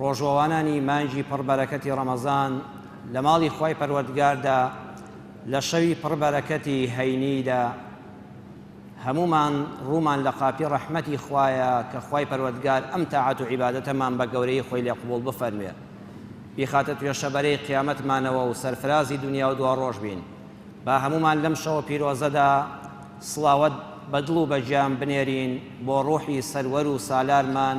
ڕۆژوەوانانی مانگی پڕ بەرەکەتی ڕەمەزان لە ماڵی خوای پەروەردگاردا لە شەوی پڕ بەرەکەتی هەینیدا هەموومان ڕوومان لە قاپی ڕەحمەتی خوایە کە خوای پەروەردگار ئەم تاعەت و عیبادەتەمان بە گەورەی خۆی لێ قبوڵ بفەرموێ بیخاتە توێشە بەرەی قیامەتمانەوە و سەرفرازی دنیا و دواڕۆژ بین با هەموومان لەم شەوە پیرۆزەدا سڵاوت بە دڵ و بە گیان بنێرین بۆ ڕوحی سەروەر و سالارمان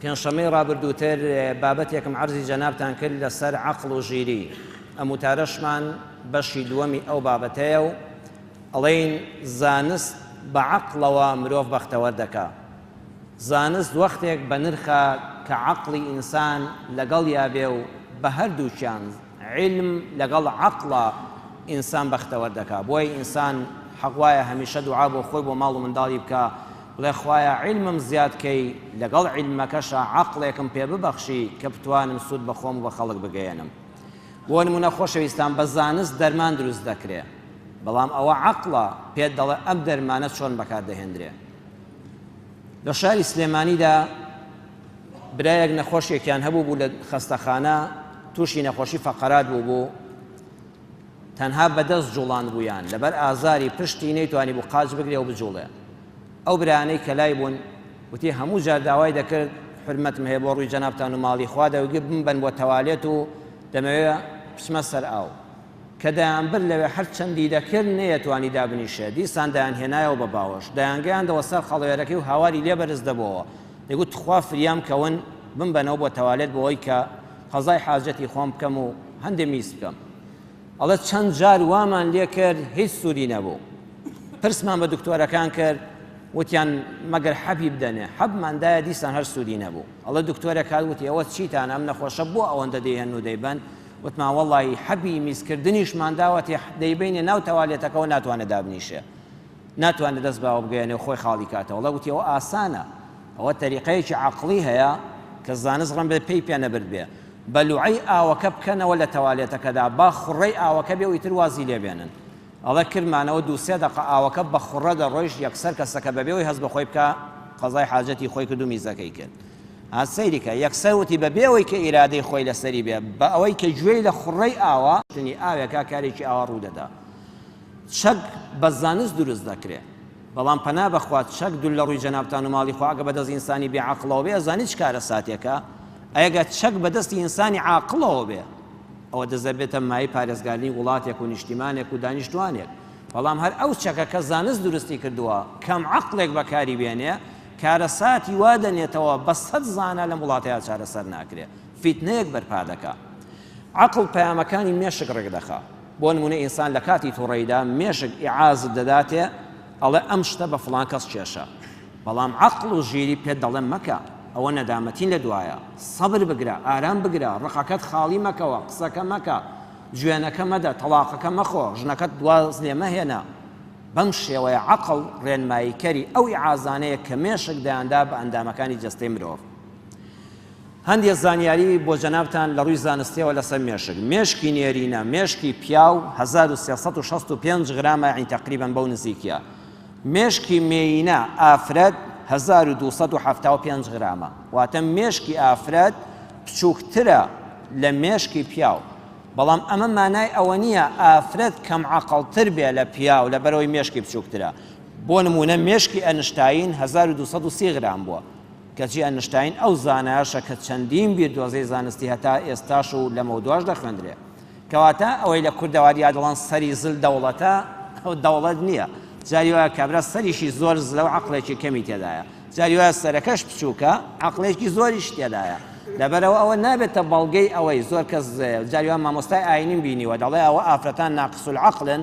پێنجشەممەی ڕابردووتر بابەتێکم عەرزی جەنابتان کرد لەسەر عەقڵ و ژیری، ئەم وتارەشمان بەشی دووەمی ئەو بابەتەیە و ئەڵێین زانست بە عەقڵەوە مرۆڤ بەختەوەر دەکا. زانست وەختێک بەنرخە کە عەقڵی ئینسان لەگەڵیا بێ و بە هەردووکیان، عیلم لەگەڵ عەقڵا ئینسان بەختەوەر دەکا بۆیە ئینسان حەق وایە هەمیشە دوعا بۆ خۆی بۆ ماڵ و منداڵی بکا بڵێ خوایە عیلمم زیاد کەی لەگەڵ عیلمەکەشا عەقڵێکم پێ ببەخشی کە بتوانم سوود بە خۆم و بە خەڵک بگەیەنم بۆ نموونە خۆشەویستان بە زانست دەرمان دروست دەکرێ بەڵام ئەوە عەقڵە پێت دەڵێ ئەم دەرمانە چۆن بەکار دەهێندرێ لە شاری سلێمانیدا برایەک نەخۆشێکیان هەبوو بوو لە خەستەخانە تووشی نەخۆشی فەقەرات بوو بوو تەنها بەدەست جوڵاند بوویان لەبەر ئازاری پشتی نەیتوانی بوو قاچ بگرێ و بجوڵێ ئەو برانەی کە لای بوون وتی هەموو جار داوای دەکرد حرمەتم هەیە بۆ ڕووی جەنابتان و ماڵی خوا دەوگی بمبەن بۆ تەوالێت و دەمەوێ بچمە سەر ئاو کە دەیانبر لەوێ هەر چەندی دەکرد نەیەتوانی دابنیشێ دیسان دەیان هێنایەوە بە باوەش دەیانگەیاندەوە سەر خەڵوێرەکەی و هاواری لێ بەرز دەبۆوە دەگوت تخوا فریام کەون بمبەنەوە بۆ تەوالێت بۆی کە قەزای حاجەتی خۆم بکەم و هەندێ میز بکەم ئەڵە چەند جار وامان لێ کرد هیچ سوودی نەبوو پرسمان بە دکتۆرەکان کرد وتیان مەگەر حەبی بدەنێ حەبماندایە دیسان هەر سوودی نەبوو ئەڵە دکتۆرە کار وتی ئەوە چیتان ئەم نەخۆشە بۆ ئەوەندە دەیهێن و دەیبەن وتمان وەڵی حەبی میزکردنیشمانداوە تێ دەیبینە ناو تەوالێتەکەەوە ناتوانێت دابنیشێ ناتوانێت دەست بە ئەوە بگەیەنێ و خۆی خاڵی کاتەوە. اللە گوتی، ئەوە ئاسانە. ئەوە تەریقەیەکی عەقڵی هەیە کە زانست ڕەنبێ پێی پێ نەبردبێ. بە لوعەی ئاوەکە بکەنەوە لە تەوالێتەکەدا، با خوڕەی ئاوەکە بێ و ئیتر وازی لێ بێنن. ئەڵێ، کردمانەوە دوو سێ دەقە ئاوەکە بە خوڕە دەڕۆیشت، یەکسەر کەسەکە بەبێ ئەوەی هەست بە خۆی بکا قەزای حاجەتی خۆی کرد و میزەکەی کرد. هات سەیری کرد. یەکسەر وتی، بە بێ ئەوەی کە ئیرادەی خۆی لەسەری بێ، بە ئەوەی کە گوێی لە خوڕەی ئاوە، شتنی ئاوێکا کارێکی ئاوا ڕوو دەدا. چەک بە زانست دروست دەکرێ بەڵام پەنا بەخوا چەک دول لەڕوی جەنابتان و ماڵی خۆ ئەگە بەدەست ئینسانی بێ عەقڵەوە بێ ئەزانی چ کارەساتێکە ئەگە چەک بەدەستی ئینسانی عاقڵەوە بێ ئەوە دەزەبێتە مای پارێزگارنی وڵاتێک و نیشتیمانێک و دانیشتوانێک بەڵام هەر ئەو چەکە کە زانست دروستی کردووە کەم عەقڵێک بەکاری بێنێ کارەساتی وا دەنێتەوە بە سەد زانە لەم وڵاتەیە چارەسەر ناکرێ فیتنەیەک بەرپا دەکا عەقڵ پەیامەکانی مێشک ڕێک دەخا بۆ نموونە ئینسان لە کاتی توڕەیدا مێشک ئیعازت دەداتێ ئەڵێ ئەم شتە بە فڵان کەس کێشا بەڵام عەقڵ و ژیری پێت دەڵێ مەکە ئەوە نەدامەتین لە دوایە سەبر بگرە ئارام بگرە ڕقەکەت خاڵی مەکەوە قسەکە مەکە جوێنەکە مەدە تەڵاقەکە مەخۆ ژنەکەت دواز لێ مەهێنە بەم شێوەیە عەقڵ ڕێنماییکەری ئەو ئیعازانەیە کە مێشک دەیاندا بە ئەندامەکانی جەستەی مرۆڤ. هەندێ زانیاری بۆ جەنابتان لە ڕووی زانستیەوە لەسەر مێشک، مێشکی نێرینە، مێشکی پیاو هەزار و سێ سەد و شەست و پێنج غرامە یانی تەقریبەن بەو نزیکیە، مێشکی مێینە، ئافرەت، هەزار و دوو سەد و حەفتا و پێنج غرامە، واتە مێشکی ئافرەت بچووکترە لە مێشکی پیاو، بەڵام ئەمە مانای ئەوە نییە ئافرەت کەم عەقڵتر بێ لە پیاو لەبەرئەوەی مێشکی بچووکترە، بۆ نموونە مێشکی ئەنشتاین هەزار و دوو سەد و سی غرام بووە. کەچی ئەنشتاین ئەو زانایەشە کە چەندین بیردۆزەی زانستی هەتا ئێستاش و لەمەودواش دەخوێندرێ. کەواتە ئەوەی لە کوردەواریا دەڵێن سەری زل دەوڵەتە، ئەوە دەوڵەت نییە. جاری وایە کابرا سەریشی زۆر زلە و عەقڵێکی کەمی تێدایە. جاری وایە سەرەکەش بچووکە، عەقڵێکی زۆریشی تێدایە. لەبەرئەوە ئەوە نابێتە بەڵگەی ئەوەی زۆر کەس زلەیە. جاری وا مامۆستای ئایینیم بینیوە دەڵێ ئەوە ئافرەتان ناقسولعەقڵن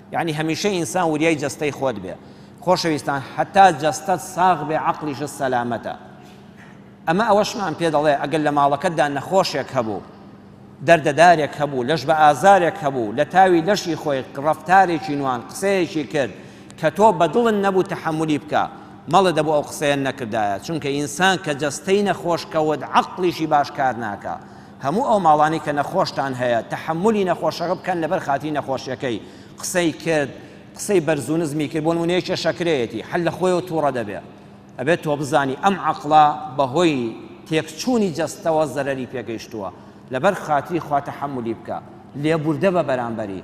یەعنی هەمیشە ئینسان وریای جەستەی خۆت بێ خۆشەویستان هەتا جەستەت ساغ بێ عەقڵیشت سەلامەتە ئەمە ئەوەشمان پێ دەڵێ ئەگەر لە ماڵەکەتدا نەخۆشێک هەبوو دەردەدارێک هەبوو لەش بە ئازارێک هەبوو لە تاوی لەشی خۆی ڕفتارێکی نوان قسەیەکی کرد کە تۆ بەدڵن نەبوو تەحملی بکە مەڵە دەبوو ئەو قسەیە نەکردایە چونکە ئینسان کە جەستەی نەخۆشکەوت عقلیشی باش کار ناکە هەموو ئەو ماڵانەی کە نەخۆشتان هەیە تەحەمولی نەخۆشەکە بکەن لەبەر خاتری نەخۆشیەکەی قسەی کرد قسەی بەرزو نزمی کرد بۆ نمونە یەکێ شەکرەیەتی هەر لە خۆیەوە توڕە دەبێ ئەبێت تۆ بزانی ئەم عەقڵە بەهۆی تێکچوونی جەستەوە زەرەری پێگەیشتووە لەبەر خاتری خوا تەحەمولی بکە لێبوردە بە بەرامبەری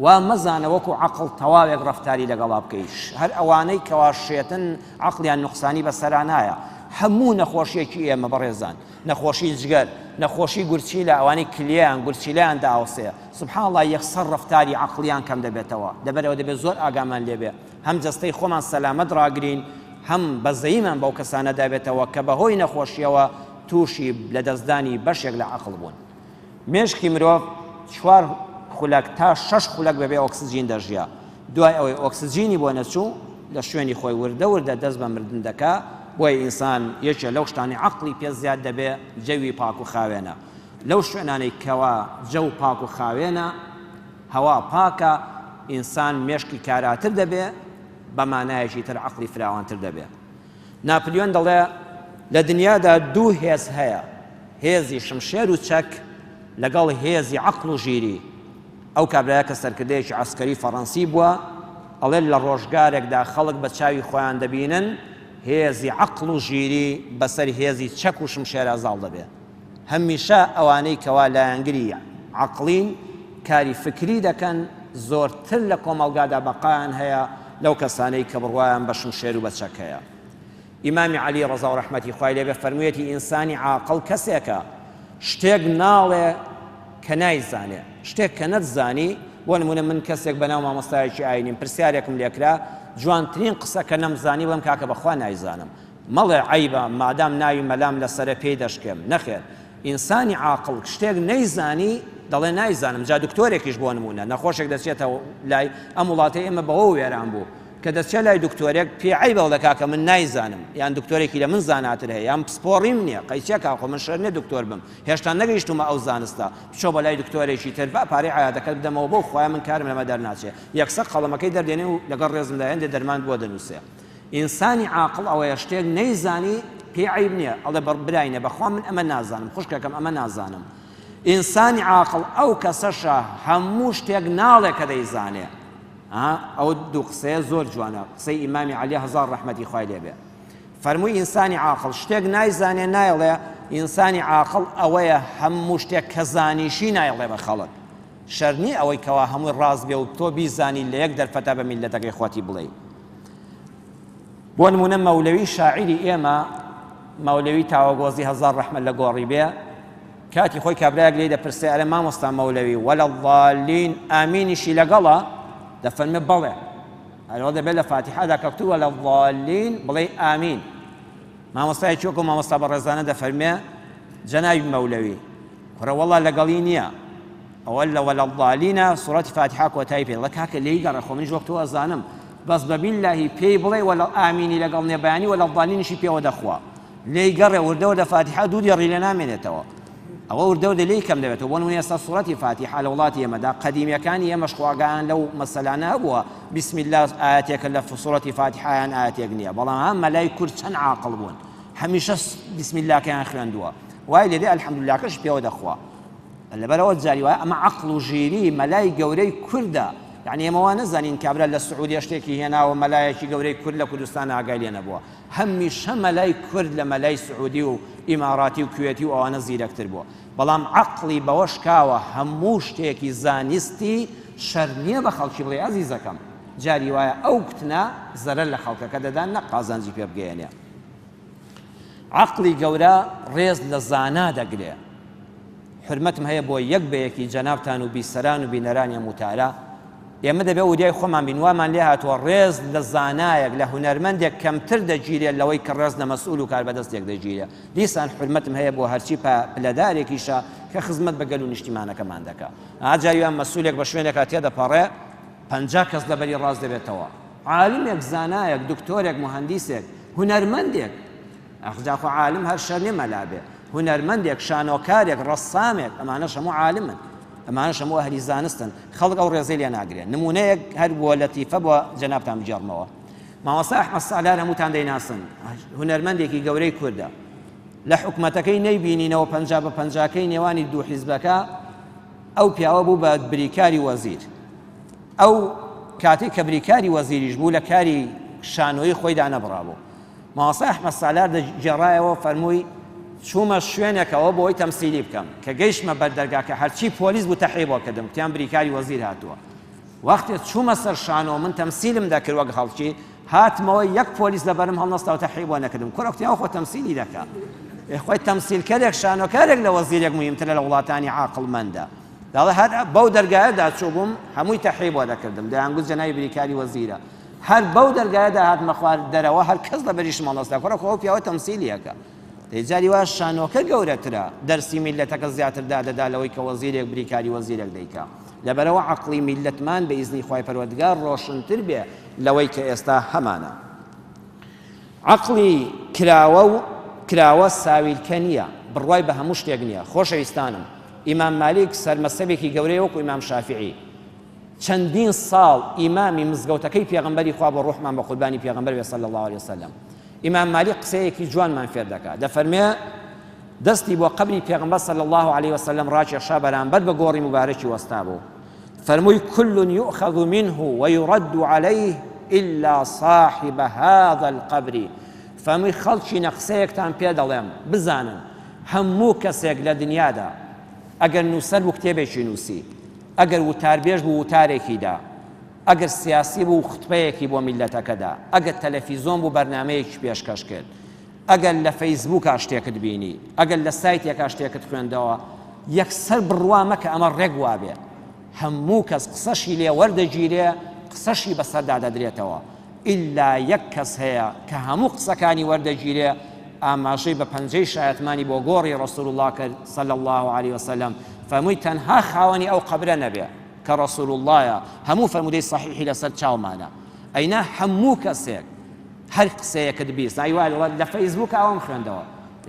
وا مەزانە وەکو عقل تەواوێک ڕفتاری لەگەڵا بکەیش هەر ئەوانەی کەوا شێتن عقلیان نقصانی بەسەرانایە هەموو نەخۆشیەکی ئێمە بەڕێزان نەخۆشی جگەر، نەخۆشی گورچیلە ئەوانەی کلیەیان گورچیلەیان دائەوسێ سبحان اللە یەکسەر ڕەفتاری عەقڵیان کەم دەبێتەوە لەبەر ئەوە دەبێ زۆر ئاگامان لێ بێ هەم جەستەی خۆمان سەلامەت ڕاگرین هەم بەزەییمان بەو کەسانەدا بێتەوە کە بەهۆی نەخۆشیەوە تووشی لەدەستدانی بەشێک لە عەقڵ بوون. مێشکی مرۆڤ چوار خولەک تا شەش خولەک بەبێ ئۆکسجین دەژیا دوای ئەوەی ئۆکسجینی بۆ نەچوو لە شوێنی خۆی وردە وردە دەست بە مردن دەکا بۆیە ئینسان یەکێ لەو شتانی عەقڵی پێ زیاد دەبێ جەوی پاک و خاوێنە لەو شوێنانەی کەوا جەو پاک و خاوێنە هەوا پاکە ئینسان مێشکی کاراتر دەبێ بە مانایەکی تر عەقڵی فراوانتر دەبێ ناپلیۆن دەڵێ، لە دنیادا دوو هێز هەیە، هێزی شمشێر و چەک لەگەڵ هێزی عەقڵ و ژیری. ئەو کابرایە کە سەرکردەیەکی عەسکەری فەڕەنسی بووە، ئەڵێ، لە ڕۆژگارێکدا خەڵک بە چاوی خۆیان دەبینن هێزی عەقڵ و ژیری بەسەر هێزی چەک و شمشێرا زاڵ دەبێ. هەمیشە ئەوانەی کەوا لایەنگری عەقڵین، کاری فکری دەکەن، زۆرتر لە کۆمەڵگادا بەقایان هەیە لەو کەسانەی کە بڕوایان بە شمشێر و بە چەکەیە. ئیمامی عەلی ڕەزا و ڕەحمەتی خوای لێ بێ فەرموویەتی ئینسانی عاقڵ کەسێکە شتێک ناڵێ کە نایزانێ، شتێک کە نەتزانی، بۆ نموونە من کەسێک بەناو مامۆستایەکی ئاینیم پرسیارێکم لێ کرا جوانترین قسەکە نەمزانی بڵێم کاکە بەخوا نایزانم، مەڵێ عەیبە مادام ناوی مەلام لەسەرە پێی دەشکێم، نەخێر ئینسانی عاقڵ شتێک نەیزانی دەڵێ نایزانم، جا دکتۆرێکیش بۆ نموونە نەخۆشێک دەچێتە لای، ئەم وڵاتەی ئێمە بەوە وێران بوو کە دەچێ لای دکتۆرێک پێی عەیبە دەڵێ کاکە من نایزانم یان دکتۆرێکی لە من زاناتر هەیە یان پسپۆڕیم نییە، قەی چیە کاکۆ من شێت نییە دکتۆر بم هێشتا نەگەیشتوومە ئەو زانستە، بچۆ بۆ لای دکتۆرێکی تر با پارەی عەیادەکەت بدەمەوە بەو خوایە من کارم لەمە دەرناچێ، یەکسەر قەڵەمەکەی دەردێنێ و لەگەڵ ڕێزمدا هێندێ دەرمانت بۆ دەنووسێ. ئینسانی عاقڵ ئەوەیە شتێک نەیزانی پێی عەیب نیە ئەڵێ بە براینە بەخوا من ئەمە نازانم خوشکەکەم ئەمە نازانم ئینسانی عاقڵ ئەو کەسەشە هەموو شتێک ناڵێ کە دەیزانێ ئەو دوو قسەیە زۆر جوانە قسەی ئیمامی علی هزار ڕحمەتی خوای لێبێ فەرمووی ئینسانی عاقل شتێک نایزانێ نایڵێ ئینسانی عاقل ئەوەیە هەموو شتێک کە زانیشی نایڵێ بە خەڵک شەرنی ئەوەی کەوا هەمووی ڕاست بێ و تۆ بیزانی لە یەک دەرفەتە بە میلەتەکەی خۆتی بڵێ بۆ نمونە مەولەوی شاعری ئێمە مەولەوی تاوەگۆزی هەزار ڕەحمە لە گۆڕی بێ کاتی خۆی کابراەک لێ دەپرسێ ئەرە مامۆستا مەولەوی وەلە ڵالین ئامینیشی لەگەڵە دەفەرمە بەڵێ هەرەوە دەبێت لە فاتیحادا کەکتو وەلە ڵالین بڵێ ئامین مامۆستای چۆکە و مامۆستا بە ڕێزانە دەفەرمێ جەناوی مەولەوی کوڕە وەڵا لەگەڵی نییە وەللە ولا الضالین سورەتی فاتیحە کۆتای پێ دەڵێ کاکە لێی گەڕێ خۆ منیش وەک تۆ ئەزانم بەس بە بیللەهی پێی بڵێ وەلە ئامینی لەگەڵ نیە بەیانی وەلە الضالینیشی پێوە دەخوا لێی گەڕێ وردە وردە فاتیحە دوو دێڕی لێ نامێنێتەوە ئەوە وردە وردە لێی کەم دەبێتەوە بۆ نمونە ئێستا سورەتی فاتیحە لە وڵاتی ئێمەدا قەدیمیەکانی ئێمەش خواگەیان لەو مەسەلانە هەبووە بسم الله ئاەتێکە لە سورەتی فاتیحەیان ئاەتێک نییە بەڵام هەم مەلای کورد چەند عاقڵ بوون هەمیشە بسم اللهکەیان خوێندووە وای لێدێ الحمدللهکەش پێوە دەخوا لەبەرئەوە جاری وایە ئەمە عەقڵ و ژیری مەلای گەورەی کوردە یەعنی ئێمە وا نەزانین کابرا لە سعودیە شتێکی هێناوە مەلایەکی گەورەی کورد لە کوردستان ئاگای لێ نەبووە هەمیشە مەلای کورد لە مەلای سعودی و ئیماراتی و کوێتی و ئەوانە زیرەکتر بووە بەڵام عەقڵی بەوە شکاوە هەموو شتێکی زانستی شەر نییە بە خەڵکی بڵێ ئازیزەکەم جاری وایە ئەو کوتنە زەرەر لە خەڵکەکە دەدا نەک قازانجی پێ بگەیەنێ عەقڵی گەورە ڕێز لە زانا دەگرێ. حورمەتم هەیە بۆ یەک بە یەکی جەنابتان و بیسەران و بینەرانی ئەم وتارە. ئێمە دەبێ وریای خۆمان بین، وامان لێ هاتووە ڕێز لە زانایەک، لە هونەرمەندێک کەمتر دەگیرێ لەوەی کە ڕێز لە مەسئول و کاربەدەستێک دەگیرێ. دیسان حورمەتم هەیە بۆ هەرچی پلەدارێکیشە کە خزمەت بە گەل و نیشتیمانەکەمان دەکا. ئاجا یان مەسئولێک بە شوێنێکا تێدەپەڕێ، پەنجا کەس لە بەری ڕاست دەبێتەوە، عالمێک، زانایەک، دکتۆرێک، موهەندیسێک، هونەرمەندێک، ئاخ جا خۆ عالم هەر شەر نیە مەلا بێ، هونەرمەندێک، شانۆکارێک، ڕەسامێک، ئەمانەش هەموو عالمن، ئەمانەش هەموو ئەهلی زانستن، خەڵک ئەو ڕێزەی لێ ناگرێ، نموونەیەک هەر بۆ لەتیفە بۆ جەنابتان بگێڕمەوە، مامۆستا ئەحمەد سالار هەمووتان دەیناسن، هونەرمەندێکی گەورەی کوردە، لە حکومەتەکەی نەیبینینەوە پەنجا بە پەنجاکەی نێوانی دوو حیزبەکە، ئەو پیاوە بوو بە بریکاری وەزیر. ئەو کاتێک کە بریکاری وەزیریش بوو لە کاری شانۆیی خۆی دانەبڕابوو. مامۆستا ئەحمەد سالار دەگێڕایەوە و فەرمووی، چوومە شوێنێکەوە بۆ ئەوەی تەمسیلی بکەم. کە گەیشتمە بەر دەرگاکە هەرچی پۆلیس بوو تەحی بۆ کردم، گوتیان بریکاری وەزیر هاتووە. وەختێ چوومە سەر شانۆ من تەمسیلم دەکرد وەک خەڵکی، هاتمەوە یەک پۆلیس لەبەرم هەڵنەستاو تەحی بۆ نەکردم کوڕە کوتی ئەوە خۆ تەمسیلی دەکا ئێ خۆی تەمسیلکەرێک شانۆکارێک لە وەزیرێک موهیمترە لە وڵاتانی عاقڵمەندە داڵێ هەر بەو دەرگایەدا چووبووم هەمووی تەحی بۆ دەکردم دەیانگوت جەنابی بریکاری وەزیرە هەر بەو دەرگایەدا هاتمە خوار دەرەوە هەر کەس لەبەریشم هەڵنەستا کوڕە خۆ ئەو پیاوە تەمسیلیەکە دەی جاری وا شانۆکە گەورەترە، دەرسی میللەتەکە زیاتر دادەدا لەوەی کە وەزیرێک بریکاری وەزیرێک دەیکا. لەبەرئەوە عەقڵی میللەتمان بە ئیزنی خوای پەروەردگار ڕۆشنتر بێ لەوەی کە ئێستا هەمانە. عەقڵی کراوە و کراوە ساویلکە نییە، بڕوای بە هەموو شتێک نییە. خۆشەویستانم، ئیمام مالیک سەرمەزهەبێکی گەورەیە وەکوو ئیمام شافیعی. چەندین ساڵ ئیمامی مزگەوتەکەی پێغەمبەری خوا بۆ ڕوحمان بە قوربانی پێغەمبەر بێ صلی الله علیه وسلم ئیمام مالیک قسەیەکی جوانمان فێر دەکات دەفەرمێ دەستی بۆ قبری پێغمبەر صلی الله عليه وسلم ڕاکێشا بەرامبەر بە گۆڕی مبارەکی وەستا بوو فەرمووی كل يؤخذ منه ويرد عليه إلا صاحب هذا القبر فەرمووی خەڵکی نەقسەیەکتان پێ دەڵێم بزانن هەموو کەسێک لە دنیادا ئەگەر نووسەر و کتێبێکی نووسی ئەگەر وتاربێژ بوو وتارێکی دا، ئەگەر سیاسی بوو خوتبەیەکی بۆ میللەتەکە دا، ئەگەر تەلەفیزۆن بوو بەرنامەیەکی پێشکەش کرد، ئەگەر لە فەیسبووکا شتێکت بینی، ئەگەر لە سایتێکا شتێکت خوێندەوە، یەکسەر بڕوا مەکە ئەمە ڕێک وابێ. هەموو کەس قسەشی لێ وەردەگیرێ، قسەشی بەسەردا دەدرێتەوە. ئیلا یەک کەس هەیە کە هەموو قسەکانی وەردەگیرێ ئاماژەی بە پەنجەی شایەتمانی بۆ گۆڕی رسول اللە کرد صلی اللە علیە وسلم فەرمووی تەنها خاوەنی ئەو قەبرە نەبێ کە رسول اللە هەموو فەرموودەی صحیحی لەسەر چاومانە ئەینا هەموو کەسێک هەر قسەیەکت بیست ئای وایە لە فەیسبووک ئەوم خوێندەوە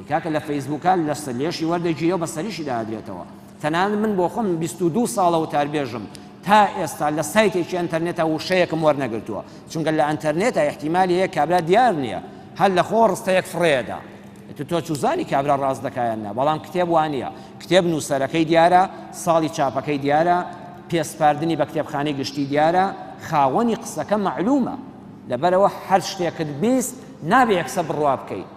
کاکە لە فەیسبووکان لەسەر لێشی وەردەگیرێ و بەسەریشی دادرێتەوە تەنانەت من بۆخۆم بیست و دوو ساڵە وتاربێژم تا ئێستا لە سایتێکی ئەنتەرنێتا وشەیەکم وەرنەگرتووە چونکە لە ئەنتەرنێتا ئیحتیمالی هەیە کابرا دیار نیە هەر لە خۆ ڕستەیەک فڕێدا ئیتر تۆ چوزانی کابرا ڕاست دەکا یان نا بەڵام کتێب وا نیە کتێب نووسەرەکەی دیارە ساڵی چاپەکەی دیارە پێسپاردنی بە کتێبخانەی گشتی دیارە خاوەنی قسەکە مەعلومە لەبەرەوە هەر شتێکت بیست نابێ یەکسە بڕوا بکەیت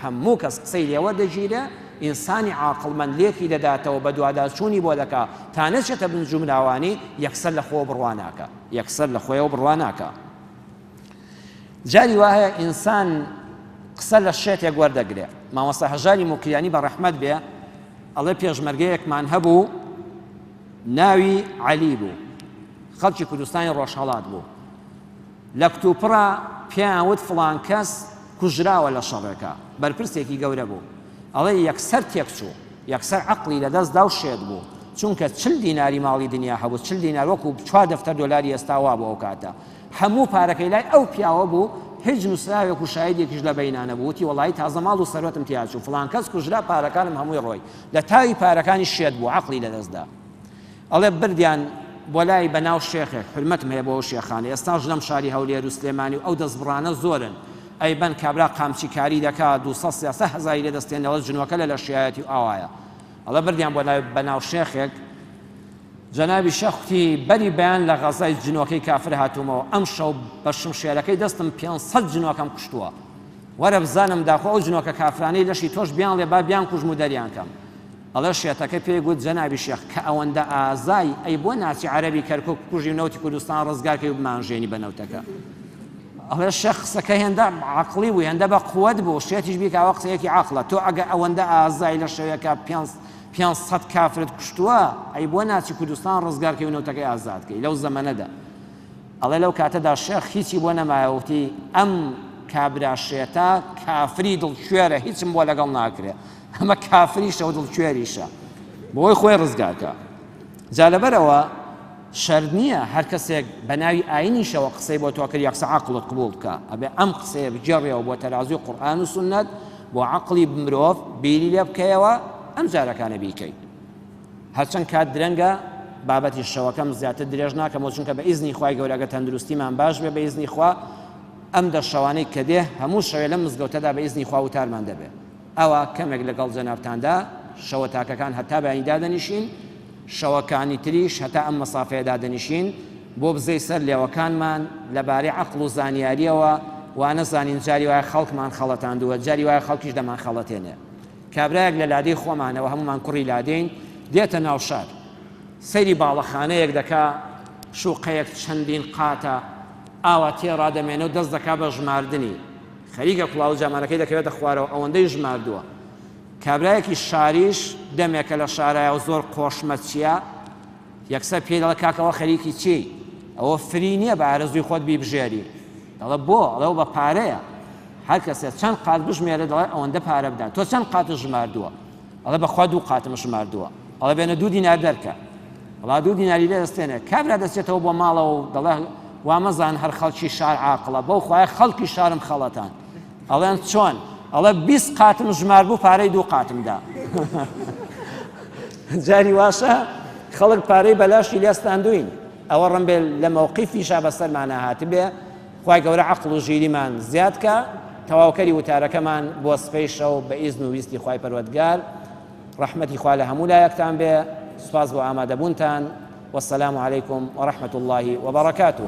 هەموو کەس قسەی لێ وەردەگیرێ، ئینسانی عاقڵمەند لێکی دەداتەوە بەدواداچوونی بۆ دەکا تا نەچێتە بن جومراوانی یەکسەر لە خۆوە بڕوا ناکا یەکسەر لە خۆیەوە بڕوا ناکا جاری وایە ئینسان قسە لە شێتێک وەردەگرێ مامۆستا هەژاری موکریانی بە ڕەحمەت بێ ئەڵێ پێشمەرگەیەکمان هەبوو ناوی عەلی بوو خەڵکی کوردستانی ڕۆژهەڵات بوو لە کتوپڕا پێیان وت فڵان کەس کوژراوە لە شەڕێکا، بەرپرسێکی گەورە بوو، ئەڵێ یەکسەر تێکچوو، یەکسەر عەقڵی لەدەست دا و شێت بوو، چونکە چل دیناری ماڵی دنیا هەبوو، چل دینار وەکو چوار دەفتەر دۆلاری ئێستا وا بوو ئەو کاتە، هەموو پارەکەی لای ئەو پیاوە بوو، هیچ نووسراوێک و شایدێکیش لە بەینا نەبوو، وتی وەڵاهی تازە ماڵ و سەروەتم تیا چوو، فڵان کەس کوژرا، پارەکانم هەمووی ڕۆی، لە تاوی پارەکانیش شێت بوو، عەقڵی لەدەست دا. ئەڵێ بردیان بۆ لای بە ناو شێخێک حورمەتم هەیە بۆ ئەو شێخانە ئێستاش لەم شاری هەولێر و سلێمانی و ئەو دەستبڕانە زۆرن ئەیبەن کابرا قامچی کاری دەکا دوو سەد سێ سەد هەزاری لێ دەستێن ئەڵێ جنۆکە لە لەشیایەتی و ئاوایە ئەڵێ بردیان بۆ لای بە ناو شێخێک جەنابی شێخ کوتی بەری بەیان لە غەزای جنۆکەی کافر هاتوومەوە ئەم شەو بە شمشێرەکەی دەستم پێ سەد جنۆکەم کوشتووە وەرە بزانم داخۆ ئەو جنۆکە کافرانەی لەشی تۆش بیان لێ با بیان کوژم و دەریان کەم ئەڵێ شێتەکە پێی گوت جەنابی شێخ کە ئەوەندە ئازای ئەی بۆ ناچی عەرەبی کەرکوک بکوژی و نەوتی کوردستان ڕزگار کەی و بمانژێنی بە نەوتەکە ئەڵێ شێخ قسەکە هێندە عەقڵی بوو هێندە بە قوەت بوو شێتیش بیکە ئەوە قسەیەکی عەقڵە تۆ ئەگە ئەوەندە ئازای لە شەوێکە پێنج پێنج سەد کافرت کوشتووە ئەی بۆ ناچی کوردستان ڕزگار کەی و نەوتەکەی ئازاد کەی لەو زەمەنەدا ئەڵێ لەو کاتەدا شێخ هیچی بۆ نەمایەوتی ئەم کابرا شێتە کافری دڵ کوێرە هیچم بۆ لەگەڵ ناکرێ ئەمە کافریشە و دڵکوێریشە بۆی خۆی ڕزگارکە جا لەبەرەوە شەرت نییە هەر کەسێک بە ناوی ئاینیشەوە قسەی بۆ تۆ کرد یەکسە عقلت قبول بکە ئەبێ ئەم قسەیە بگێڕیەوە بۆ تەرازوی قورآن و سنت بۆ عقلی مرۆڤ بیری لێ بکەیەوە ئەم جارەکانە بیکەیت هەرچەند کات درەنگە بابەتی شەوەکەم زیاتر درێژ ناکەم چونکە بە ئیزنی خخوای گەورەگە تەندروستیمان باش بێ بە ئیزنی خوا ئەم دە شەوانەی کە دێ هەموو شەوێ لەم مزگەوتەدا بە ئیزنی خوا وتارمان دەبێت ئەوا کەمێک لەگەڵ جەنابتاندا شەوە تاکەکان هەتا بەیانی دادەنیشین، شەوەکانی تریش هەتا ئەم مەسافەیە دادەنیشین، بۆ بزەی سەر لێوەکانمان، لەبارەی عەقڵ و زانیارییەوە، وانەزانین جاری وایە خەڵکمان خەڵەتاندووە، جاری وایە خەڵکیش دەمانخەڵەتێنێ. کابرایەک لە لادێی خۆمانەوە، هەموومان کوڕی لادێین، دێتە ناو شار، سەیری باڵەخانەیەک دەکا، شووقەیەک چەندین قاتە، ئاوا تێ ڕادەمێنێ و دەست دەکا بە ژماردنی. خەریکە کوڵاوە جامانەکەی دەکەوێتە خوارەوە ئەوەندەی ژماردووە. کابرایەکی شاریش دەمێکە لە شارایە و زۆر قۆشمەچییە، یەکسەر پێی دەڵێ کاکە ئەوە خەریکی چیی؟ ئەوە فری نییە بە ئارەزووی خۆت بیبژێری. دەڵێ بۆ؟ ئەڵێ ئەوە بە پارەیە. هەر کەسێ چەند قات بژمێرێ دەڵێ ئەوەندە پارە بدە. تۆ چەند قاتت ژماردووە؟ ئەڵێ بەخوا دوو قاتم ژماردووە ئەڵێ بێنە دوو دینار دەرکە وڵا دوو دیناری لێ دەستێنێ کابرا دەچێتەوە بۆ ماڵەوە و دەڵێ وامەزان هەر خەڵکی شار عاقڵە بەو خوای خەڵکی شارم خەڵەتان ئەڵێن چۆن ئەڵێ بیست قاتم ژمار بوو پارەی دوو قاتمدا جاری واشە خەڵک پارەی بەلاشی لێستاندوین ئەوە ڕمبێ لە مەوقی فیشا بەسەرمانە هاتبێ خوای گەورە عەقڵ و ژیریمان زیاد کا تەواوکەری وتارەکەمان بۆ سپەی شەو بە ئیزن و ویستی خوای پەروەدگار ڕەحمەتی خوا لە هەموو لایەکتان بێ سوپاس بۆ ئامادەبوونتان والسلام عليكم ورحمة الله وبركاته